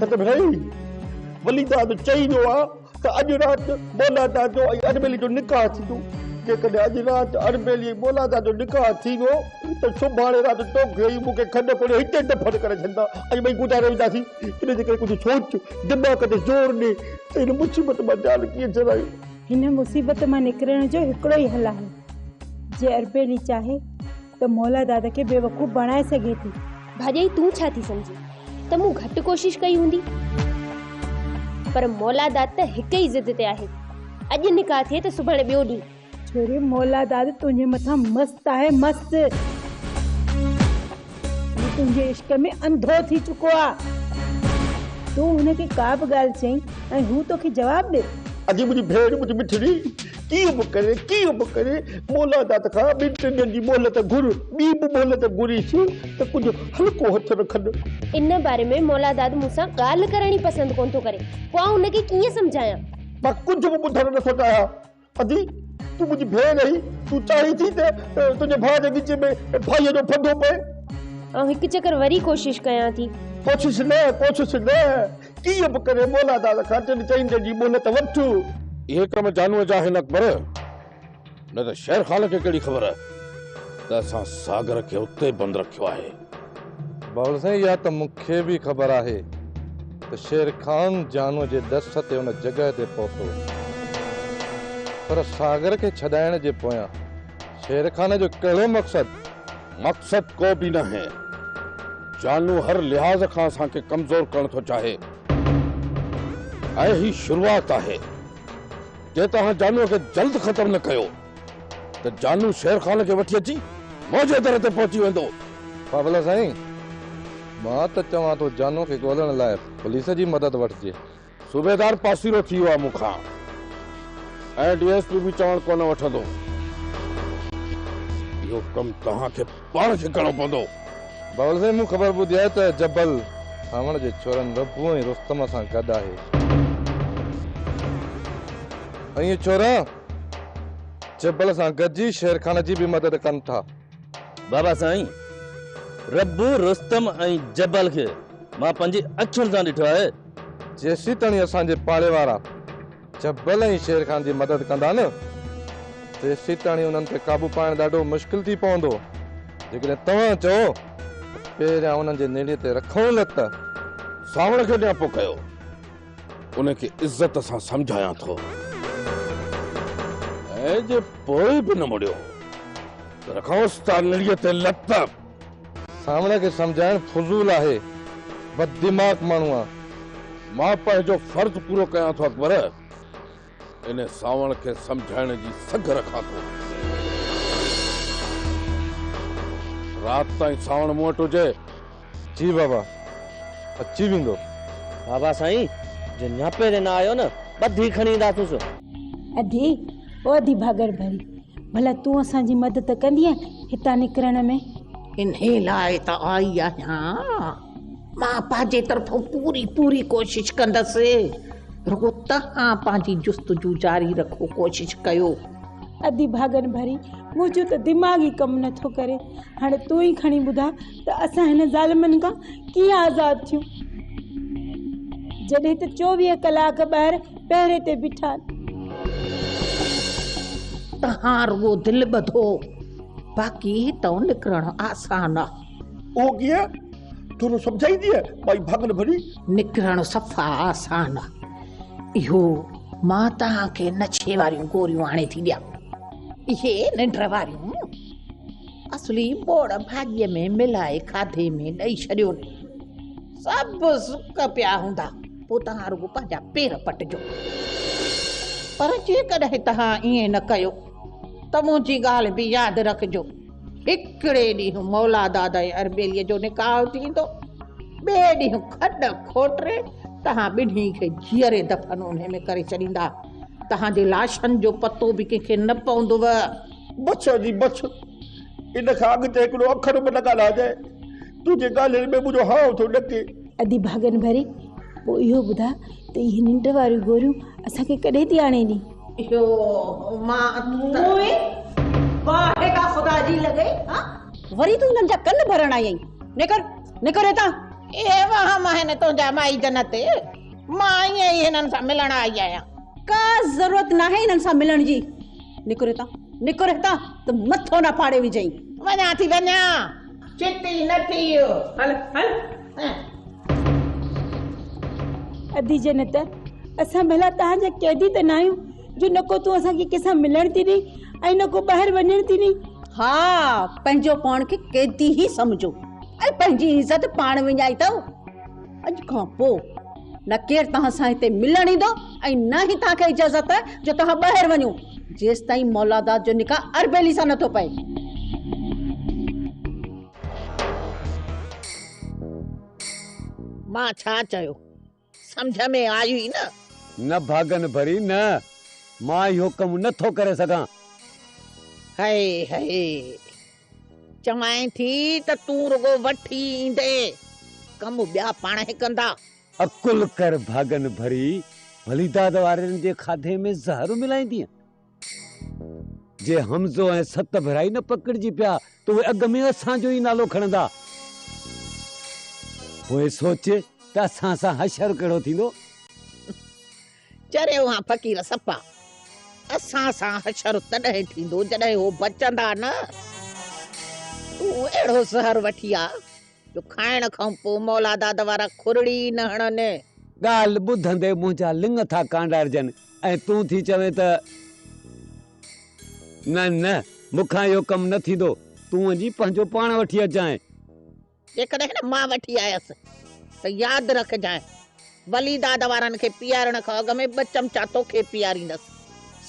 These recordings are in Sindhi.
سگهڙائي وليداد چئي ويو آهي ته اڄ رات بولادا جو ۽ اربيلي جو نڪاح ٿيندو. جيڪڏهن اڄ رات اربيلي ۽ بولادا جو نڪاح ٿي ويو ته سڀاڻي رات توکي ۽ مون کي کنڊ کوڙي هتي دفن ڪري ڇڏيندا ۽ ٻئي گڏا رهي وينداسين. ان جي ڪري ڪجهه سوچ، دماغ تي زور ڏي ته هن مصيبت مان جان ڪيئن ڇڏايون. هن مصيبت مان نڪرڻ جو هڪڙو ئي حل آهي، جي اربيلي چاهي. ته مولا داد کي بيوقوف بڻائي سگهي ٿي. ڀاڄائي تون ڇا ٿي سمجهين ته مون گهٽ ڪوشش ڪئي هوندي. پر مولا داد ته هڪ ئي ضد تي آهي. اڄ نڪاح ٿئي ته سڀاڻي ٻيو ڏينهن. ڇوري مولا داد تنهنجي مٿان مست آهي مست. هو تنهنجي عشق ۾ انڌو ٿي چڪو آ. تون هن کي ڪا به ڳالهه چئين ۽ هو توکي جواب ڏي. اڄ منهنجي ڀيڻ منهنجي مٺڙي ڪيئن به ڪري، ڪيئن به ڪري مولا داد کان ٻن ٽن ڏينهن جي مهلت گهر، ٻي به مهلت گهريس ته ڪجهه هلڪو هٿ رکن. ان باري ۾ مولا داد مون سان ڳالهه ڪرڻ ئي پسند ڪونه ٿو ڪري، پوء آئون ان کي ڪيئن سمجهايان؟ مان ڪجهه به ٻڌڻ نه ٿو چاهيان. ادي، تون منهنجي ڀيڻ آهين، تون چاهين ٿي ته تنهنجي ڀاء جي ڳچيء ۾ ڀائيء جو ڦندو پئي. آئون هڪ چڪر وري ڪوشش ڪيان ٿي. ڪوشش نه، ڪوشش نه. ڪيئن به ڪري مولا داد کان ٽن چئن ڏينهن جي مهلت وٺ. اهي ڪم جانوء جا آهن اڪبر، نه ته شير خان کي ڪهڙي خبر ته اسان ساگر کي اتي بند رکيو آهي. باول سائين اها ته مون کي به خبر آهي ته شير خان جانوء جي ڏس تي ان جڳهه تي پهتو، پر ساگر کي ڇڏائڻ جي پويان شير خان جو ڪهڙو مقصد؟ مقصد ڪو به ناهي. جانو هر لحاظ کان اسان کي ڪمزور ڪرڻ ٿو چاهي ۽ هي شروعات آهي. جي توهان جانو کي جلد ختم نه ڪيو ته جانو شير خان کي وٺي اچي منهنجي در تي پهچي ويندو. ڦاڦلا سائين مان ته چوان ٿو جانو کي ڳولڻ لاء پوليس جي مدد وٺجي. صوبيدار پاسيرو ٿي ويو آ مون کان ۽ ڊي ايس پي به چوڻ ڪونه وٺندو. اهو ڪم توهان کي پاڻ کي ڪرڻو پوندو. بابل سائين مون خبر ٻڌي آهي ته جبل سانوڻ جي ڇورن ربو ۽ رستم سان گڏ آهي. اهي ڇورا جبل سان گڏجي شيرخان جي به مدد ڪن ٿا. بابا سائين ربو رستم ۽ جبل کي مان پنهنجي اکين سان ڏٺو آهي. جيسيتڻي اسان جي پاڙي وارا جبل ۽ شير خان جي مدد ڪندا نه تيسيتڻي انهن تي قابو پائڻ ڏاڍو مشڪل ٿي پوندو جيڪڏهن توهان چئو پهريان انهن جي نيڙي تي رکون نه ته سانوڻ کي نياپو ڪيو ان کي عزت سان سمجهايان ٿو ۽ جي پوء به نه مڙيو ته رکانس تان نيڙي تي لت سامڻي کي سمجهائڻ فضول آهي بد دماغ ماڻهو آن. مان پنهنجو فرض پورو ڪيان ٿو اڪبر ان سانوڻ کي سمجهائڻ جي سگهه رکان ٿو. رات تائين سانوڻ مون وٽ هجي. جي بابا اچي ويندو. بابا سائين جي نياپي تي نه آيو نه ٻڌي کڻي اينداسونس. ادي او ادي ڀاڳڙ ڀري، ڀلا تون اسان جي مدد ڪندينء هتان نڪرڻ ۾؟ انهيء لاء ته آئي آهيان. مان پنهنجي طرفون پوري پوري ڪوشش ڪندس. رڳو توهان پنهنجي جستجو جاري رکو، ڪوشش ڪيو. ادي ڀاڳڙ ڀري، منهنجو ته دماغ ئي ڪم نه ٿو ڪري. هاڻي تون ئي کڻي ٻڌاء ته اسان هن ظالمن کان ڪيئن آزاد ٿيون. جڏهن ته چوويهه ڪلاڪ ٻاهر پهري تي بيٺا آهن. توهان رڳو دل ٻڌو، باقي هتئون نڪرڻ آسان آهي. اهو ڪيئن؟ ٿورو سمجهائينديء ٻائي ڀاڱن ڀري. نڪرڻ صفا آسان آهي. اهو مان توهان کي نشي واريون گوريون آڻي ٿي ڏيان. اهي ننڊ واريون اصلي ٻوڙ ڀاڄيء ۾ ملائي کاڌي ۾ ڏئي ڇڏيون. سڀ سڪ پيا هوندا، پوء توهان رڳو پنهنجا پير پٽجو. پر جيڪڏهن توهان ائين نه ڪيو ته منهنجي ڳالهه به ياد رکجو. هڪڙي ڏينهن مولا داد ۽ اربيليء جو نڪاح ٿيندو، ٻئي ڏينهن کڏ کوٽري توهان ٻنهي کي جيئري دفن انهي ۾ ڪري ڇڏيندا. توهان جي لاشن جو پتو به ڪنهن کي نه پوندو. بڇ جي بڇ، ان کان اڳتي هڪڙو اکر به نه ڳالهائجانء. تنهنجي ڳالهين ۾ منهنجو هانء ٿو ڏڪي. ادي ڀاڳن ڀري، پوء اهو ٻڌاء ته اهي ننڊ واريون گوريون اسان کي ڪڏهن ٿي آڻي ڏين؟ اهو مان موئي، باهه ڪا خدا جي لڳئي، هان! وري تون هنن جا ڪن ڀرڻ آئي آهين. نڪر، نڪر هتان. اهي وهم آهن تنهنجا مائي جنت تي. مان ائين ئي هنن سان ملڻ آئي آهيان. ڪا ضرورت ناهي هنن سان ملڻ جي. نڪر هتان، نڪر هتان ته مٿو نه ڦاڙي وجهين. وڃان ٿي، وڃان. چت ئي نه ٿي ويو. هل هل. ادي جنت، اسان ڀلا تان جا قيدي ته ناهيون جو نه ڪو تون اسان کي ڪنهن سان ملڻ ٿي ڏئين ۽ نه ڪو ٻاهر وڃڻ ٿي ڏئين. ها، پنهنجو پاڻ کي قيدي ئي سمجهو ۽ پنهنجي عزت پاڻ وڃائي ٿو. اڄ کان پوء نه ڪير توهان سان هتي ملڻ ايندو ۽ نه ئي توهان کي اجازت آهي جو توهان ٻاهر وڃو جيستائين مولاداد جو نڪاح اربيلي سان نٿو پئي. مان ڇا چيو سمجهه ۾ آيو ئي نه. نه ڀاڳن ڀري نه. مان اهو ڪم نٿو ڪري سگهان. هئي هئي. چوانء ٿي ته تون رڳو وٺي ايندي، ڪم ٻيا پاڻهي ڪندا. عقل ڪر ڀاڳن ڀري، ڀلي داد وارن جي کاڌي ۾ زهر ملائيندينء. جي حمزو ۽ ست ڀرائي نه پڪڙجي پيا ته اهي اڳ ۾ اسان جو ئي نالو کڻندا. پوء سوچ ته اسان سان حشر ڪهڙو ٿيندو. چريو هان فقير سپا، اسان سان حشر تڏهن ٿيندو جڏهن هو بچندا نه. تون اهڙو زهر وٺي آ، جو کائڻ کان پوء مولاداد وارا کورڙي ئي نه هڻن. ڳالهه ٻڌندي منهنجا لڱ ٿا ڪانڊارجن ۽ تون ٿي چوين ته، نه نه، مون کان اهو ڪم نه ٿيندو، تون وڃي پنهنجو پاڻ وٺي اچجانء. جيڪڏهن مان وٺي آيس ته ياد رکجانء، ولي داد وارن کي پيارڻ کان اڳ ۾ ٻه چمچا توکي پياريندس.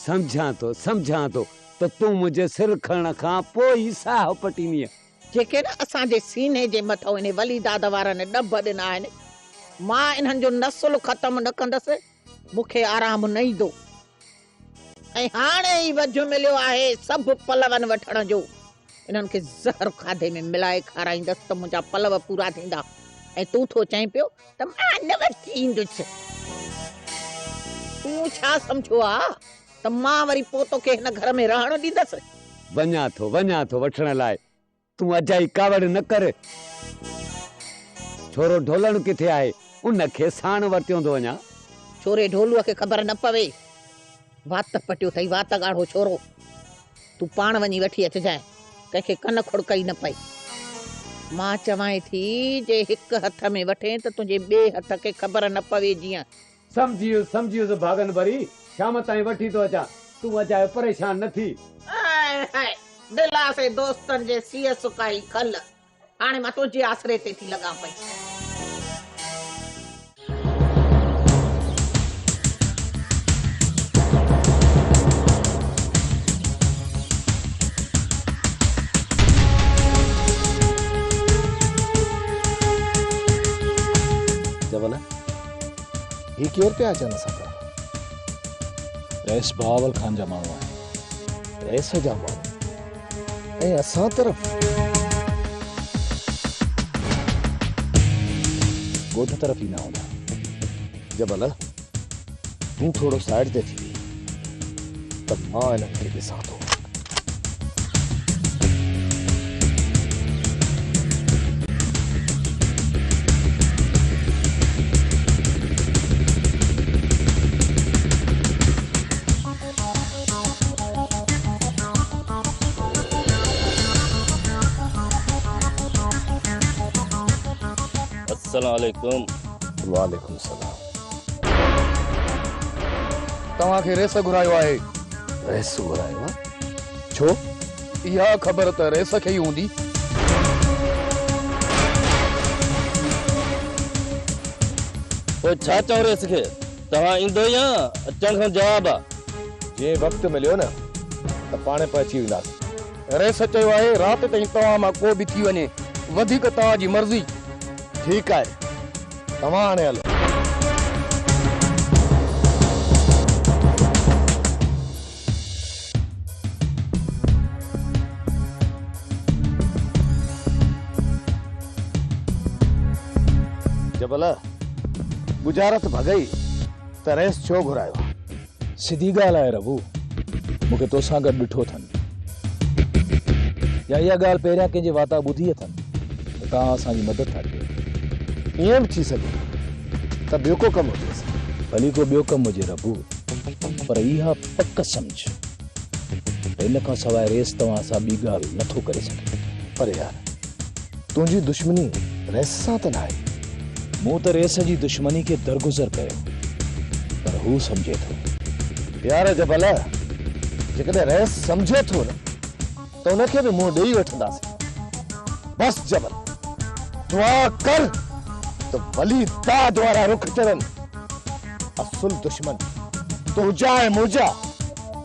سمجهان ٿو، سمجهان ٿو ته تون منهنجي سر کڻڻ کان پوء ئي ساهه پٽيندينء. جيڪي نه اسان جي سيني جي مٿئون انهي ولي داد وارن ڏڀ ڏنا آهن، مان انهن جو نسل ختم نه ڪندس، مون کي آرام نه ايندو. ۽ هاڻي ئي وجهه مليو آهي سڀ پلون وٺڻ جو. انهن کي زهر کاڌي ۾ ملائي کارائيندس ته منهنجا پلو پورا ٿيندا. ۽ تون ٿو چئين پيو ته مان نه وٺي ايندس. تون ڇا سمجهيو آ ته مان وري پوء توکي هن گهر ۾ رهڻ ڏيندس؟ وڃان ٿو، وڃان ٿو وٺڻ لاء. تون اجائي ڪاوڙ نه ڪر. ڇورو ڍولڻ ڪٿي آهي؟ ان کي ساڻ ورتيون ٿو وڃان. ڇوري ڍولوء کي خبر نه پوي. وات پٽيو اٿئي. وات ڳاڙهو ڇورو. تون پاڻ وڃي وٺي اچجانء. ڪنهن کي ڪن کڙڪئي نه پئي. مان چوانء ٿي، جي هڪ هٿ ۾ وٺين ته تنهنجي ٻئي هٿ کي خبر نه پوي جيئن. سمجهي ويس سمجهي ويس ڀاڳن ڀري شام تائين وٺي ٿو اچان تون اجايو پريشان نه ٿي. هاء هاء دلاسي دوستن جي سيء سڪائي کل هاڻي مان تنهنجي آسري تي ٿي لڳان پئي. جوانا! هي ڪير پيا اچن اسان طرف؟ رئيس بهاول خان جا ماڻهو آهن. رئيس جا ماڻهو ۽ اسان طرف؟ ڳوٺ طرف ايندا هوندا. جبل تون ٿورو سائيڊ تي ٿي ويهه. ته مان انهن کي ڏسان ٿو. السلام عليڪم. وعليڪم السلام. توهان کي ريس گهرايو آهي. ريس گهرايو آهي؟ ڇو؟ اها خبر ته ريس کي ئي هوندي. پوء ڇا چئون ريس کي؟ توهان ايندو يا اچڻ کان جواب آ؟ جي وقت مليو نه ته پاڻ پهچي وينداسين. ريس چيو آهي رات تائين توهان مان ڪو به ٿي وڃي وڌيڪ توهان جي مرضي. ٺيڪ آهي. توهان هاڻي هلو. جبل، ڳجهارت ڀڳئي ته رئيس ڇو گهرايو؟ سڌي ڳالهه آهي ربو، مون کي توسان گڏ ڏٺو اٿن يا اها ڳالهه پهريان ڪنهن جي واتا ٻڌي اٿن ته توهان اسان جي مدد ٿا ڪيو. ائين به ٿي سگهي ته ٻيو ڪو ڪم هجيس. ڀلي ڪو ٻيو ڪم هجي ربو، پر اها پڪ سمجهه ان کان سواء ريس توهان سان ٻي ڳالهه نه ٿو ڪري سگهي. پر يار! تنهنجي دشمني ريس سان ته ناهي. مون ته ريس جي دشمني کي درگذر ڪيو پر هو سمجهي ٿو. يار جبل! جيڪڏهن ريس سمجهي ٿو نه. ته ان کي به منهن ڏيئي وٺنداسين. بس جبل! دعا ڪر ته ولي داد وارا رخ چڙهن. اصل دشمن تنهنجا ۽ منهنجا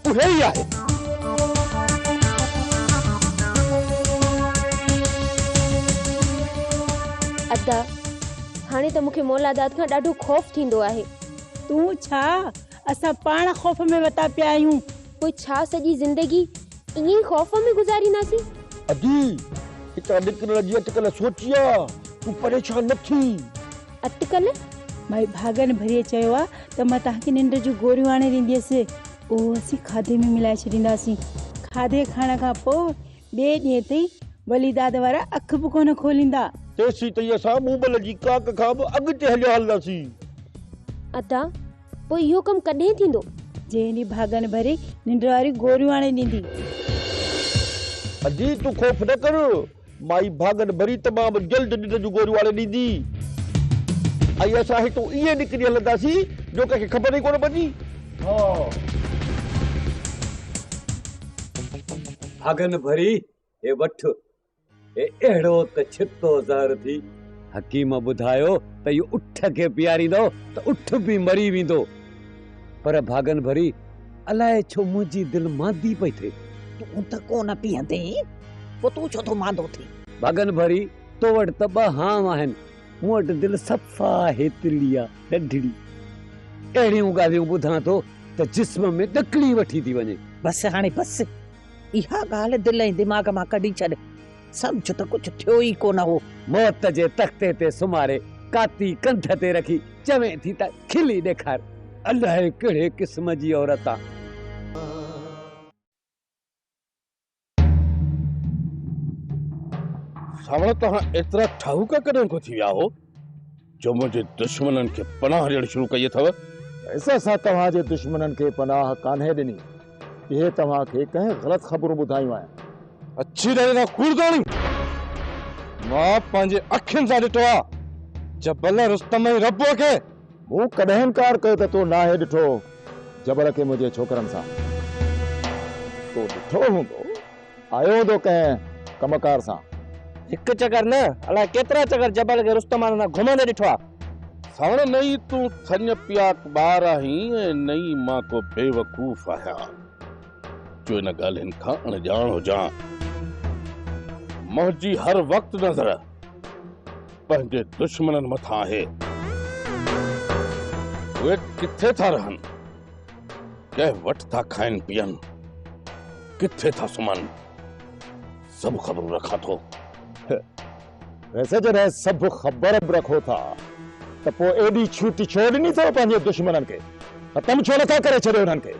اهي ئي آهن. ادا، هاڻي ته مون کي مولا داد کان ڏاڍو خوف ٿيندو آهي. تون ڇا؟ اسان پاڻ خوف ۾ وتا پيا آهيون. پوء ڇا سڄي زندگي ائين ئي خوف ۾ گذارينداسين. ادي! اتان نڪرڻ جي اٽڪل سوچي آ، تون پريشان نه ٿي. اٽڪل؟ مائي ڀاڳن ڀري چيو آ ته مان توهان کي ننڊ جون گوريون آڻي ڏينديس. اهو اسين کاڌي ۾ ملائي ڇڏينداسين. کاڌي کائڻ کان پوء ٻئي ڏينهن تائين وليداد وارا اک به ڪونه کوليندا. تيسين تائين اسان مومل جي ڪاڪ کان به اڳتي هليا هلنداسين. ادا! پوء اهو ڪم ڪڏهن ٿيندو؟ جنهن ڏينهن ڀاڳن ڀري ننڊ واريون گوريون آڻي ڏيندي. اجي تون خوف نه ڪر. مائي ڀاڳن ڀري تمام جلد ننڊ جون گوريون آڻي ڏيندي. ۽ اسان هتون ائين نڪري هلنداسين جو ڪنهن کي خبر ئي ڪونه پوندي. ڀاڳن ڀري هي وٺ. هي اهڙو ته ڇتو زهر ٿي. حڪيم ٻڌايو ته اهو اٺ کي پياريندؤ ته اٺ به مري ويندو. پر ڀاڳن ڀري، الاء ڇو منهنجي دل ماندي پئي ٿئي. تون ته ڪو نه پيئندين، پوء تون ڇو ٿو ماندو ٿين؟ ڀاڳن ڀري، تو وٽ ته ٻه هانء آهن، مون وٽ دل صفا هيتلي آ، ڏڍڙي. اهڙيون ڳالهيون ٻڌان ٿو ته جسم ۾ ڏڪڻي وٺي ٿي وڃي. بس هاڻي بس. اها ڳالهه دل ۽ دماغ مان ڪڍي ڇڏ. سمجهه ته ڪجهه ٿيو ئي ڪونه هو. موت جي تختي تي سمهاري ڪاتي ڪنڌ تي رکي چوين ٿي ته کلي ڏيکار. الاهي ڪهڙي قسم جي عورت آ. ساوڻ توهان ايترا ٺاهوڪا ڪڏهن کان ٿي ويا هو. جو منهنجي دشمنن کي پناهه ڏيڻ شروع ڪئي اٿو. بس اسان توهان جي دشمنن کي پناهه ڪانهي ڏني. اهي توهان کي ڪنهن غلط خبرون ٻڌايون آهن. اڇي ڏاڙهي کان کوڙداڻي! مان پنهنجي اکين سان ڏٺو آهي جبل رستم ۽ ربوء کي. مون ڪڏهن انڪار ڪيو ته تو ناهي ڏٺو جبل کي منهنجي ڇوڪرن سان. تو ڏٺو هوندو. آيو هوندو ڪنهن ڪم ڪار سان. هڪ چڪر نه، الاء ڪيترا چڪر جبل کي رستمان سان گهمندي ڏٺو آ. ساڻ نه ئي تون ٿڃ پياڪ ٻار آهين ۽ نه ئي مان ڪو بيوقوف آهيان، جو ان ڳالهين کان اڻ ڄاڻ هجان. منهنجي هر وقت نظر پنهنجي دشمنن مٿان آهي. اهي ڪٿي ٿا رهن؟ ڪنهن وٽ ٿا کائن پيئن، ڪٿي ٿا سمهن، سڀ خبرون رکان ٿو. ويسي جڏهن سڀ خبر به رکو ٿا ته پوء ايڏي ڇوٽ ڇو ڏني اٿو پنهنجي دشمنن کي؟ ختم ڇو نٿا ڪري ڇڏيو انهن کي؟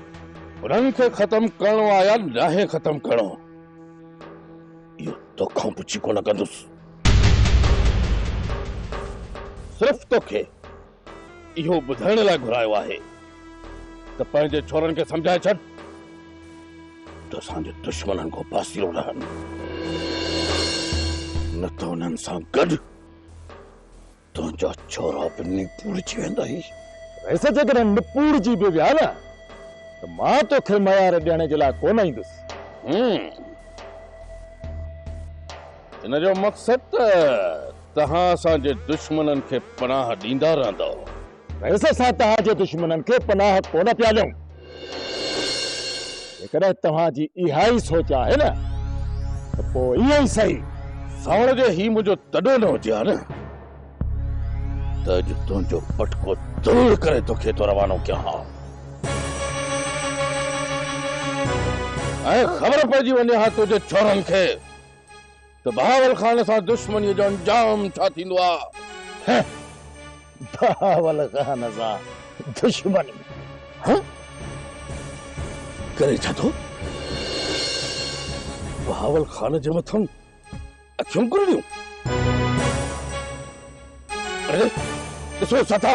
انهن کي ختم ڪرڻو آ يا ناهي ختم ڪرڻو، اهو توکان پڇي ڪونه ڪندس. صرف توکي. اهو ٻڌائڻ لاء گهرايو آهي ته پنهنجي ڇورن کي سمجهائي ڇڏ ته اسان جي دشمنن کان پاسيرو رهن، نه ته انهن سان گڏ تنهنجا ڇورا به نپوڙجي ويندائي. ويسي جيڪڏهن نپوڙجي به ويا نه ته مان توکي ميار ڏيڻ جي لاء ڪونه ايندس. ان جو مقصد ته توهان اسان جي دشمنن کي پناهه ڏيندا رهندؤ. بس اسان توهان جي دشمنن کي پناهه ڪونه پيا ڏيون. جيڪڏهن توهان جي اها ئي سوچ آهي نه ته پوء ائين ئي سهي. ساوڻ جي هي منهنجو تڏو نه هجي ها نه ته اڄ تنهنجو پٽڪو ترڙ ڪري توکي اتان روانو ڪيان ها ۽ خبر پئجي وڃي ها تنهنجي ڇورن کي ته بهاول خان سان دشمنيء جو انجام ڇا ٿيندو آ؟ هه! بهاول خان سان دشمني؟ هه! ڪري ڇا ٿو؟ بهاول خان جي مٿن اکيون ڪرڙيون؟ اڙي، ڏسو ڇا ٿا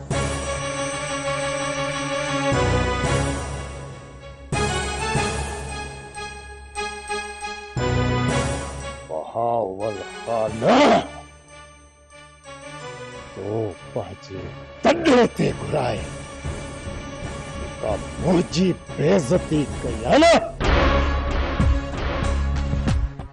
بهاول خان تو پنهنجي تڏي تي گهرائي جيڪا منهنجي بيعزتي ڪئي آهي نه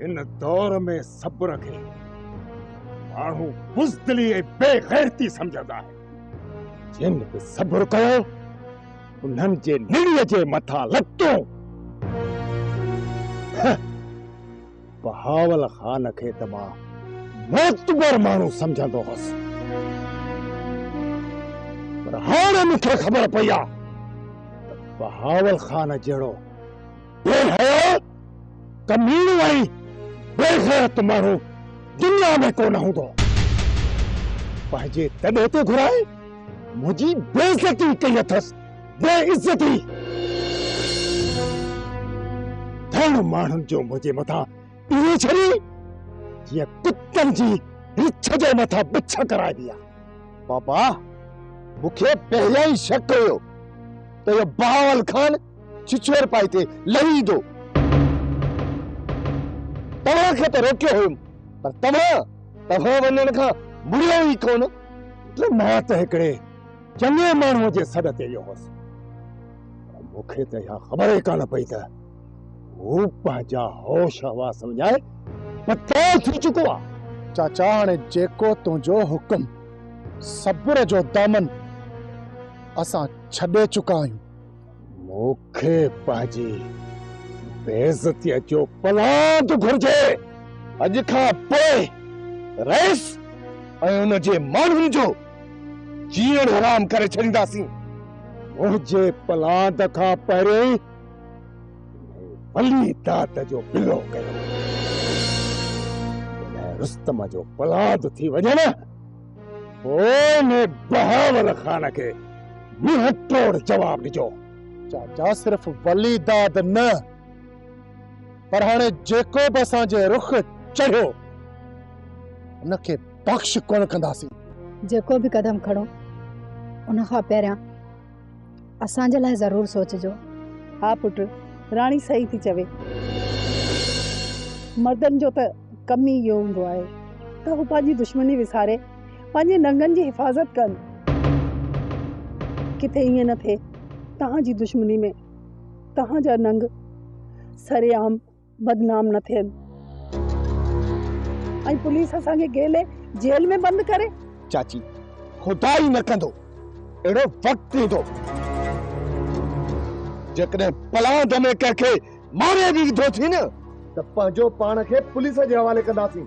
هن دور ۾ صبر کي ماڻهو بزدلي ۽ بي غيرتي سمجهندا آهن. جن به صبر ڪيو انهن جي نڙيء جي مٿان لتون. بهاول خان کي ته مان معتبر ماڻهو سمجهندو هوس. پر هاڻي مون کي خبر پئي آهي ته بهاول خان جهڙو ڪير هيو ڪميڻو ۽ بي غيرت ماڻهو دنيا ۾ ڪونه هوندو پنهنجي تڏي تي گهرائي منهنجي بي عزتي ڪئي اٿس بي عزتي ڌڻ ماڻهن جو منهنجي مٿان اهو ڇري جيئن ڪتن جي رڇ جي مٿان بڇ ڪرائبي آهي بابا مونکي پهريان ئي شڪ هيو ته اهو بهاول خان ڇڇور پائي تي لهي ايندو. توهان کي ته روڪيو هيم پر توهان توهان وڃڻ کان مڙيو ئي ڪونه. ته مان ته هڪڙي چڱي ماڻهوء جي سڏ تي ويو هوس پر مون کي ته اها خبر ئي ڪانه پئي ته هو پنهنجا هوش حواس وڃائي پتران ٿي چڪو آ. چاچا هاڻي جيڪو تنهنجو حڪم. صبر جو دامن اسان ڇڏي چڪا آهيون. مون کي پنهنجي بي عزتيء جو پلاء ٿو گهرجي. اڄ کان پوء رئيس ۽ ان جي ماڻهن جو جيئڻ حرام ڪري ڇڏينداسين. منهنجي پلاند کان پهرين ولي داد جو پلو ڪيو. جڏهن رستم جو پلاند ٿي وڃن، پوء ان بهاول خان کي منهن ٽوڙ جواب ڏجو. چاچا صرف ولي داد نه پر هاڻي جيڪو به اسان جي رخ چڙهيو ان کي بخش ڪونه ڪنداسين. جيڪو به قدم کڻو ان کان پهريان اسان جي لاء ضرور سوچجو. ها پٽ، راڻي صحيح ٿي چوي. مردن جو ته ڪم ئي اهو هوندو آهي ته هو پنهنجي دشمني وساري پنهنجي ننگن جي حفاظت ڪن. ڪٿي ائين نه ٿئي توهان جي دشمني ۾ توهان جا ننگ سرعام بدنام نه ٿين ۽ پوليس اسان کي گيلي جيل ۾ بند ڪري. چاچي خدا ئي نه ڪندو اهڙو وقت ايندو جيڪڏهن پلاند ۾ ڪنهن کي ماري به وڌو ٿي نه ته پنهنجو پاڻ کي پوليس جي حوالي ڪنداسين.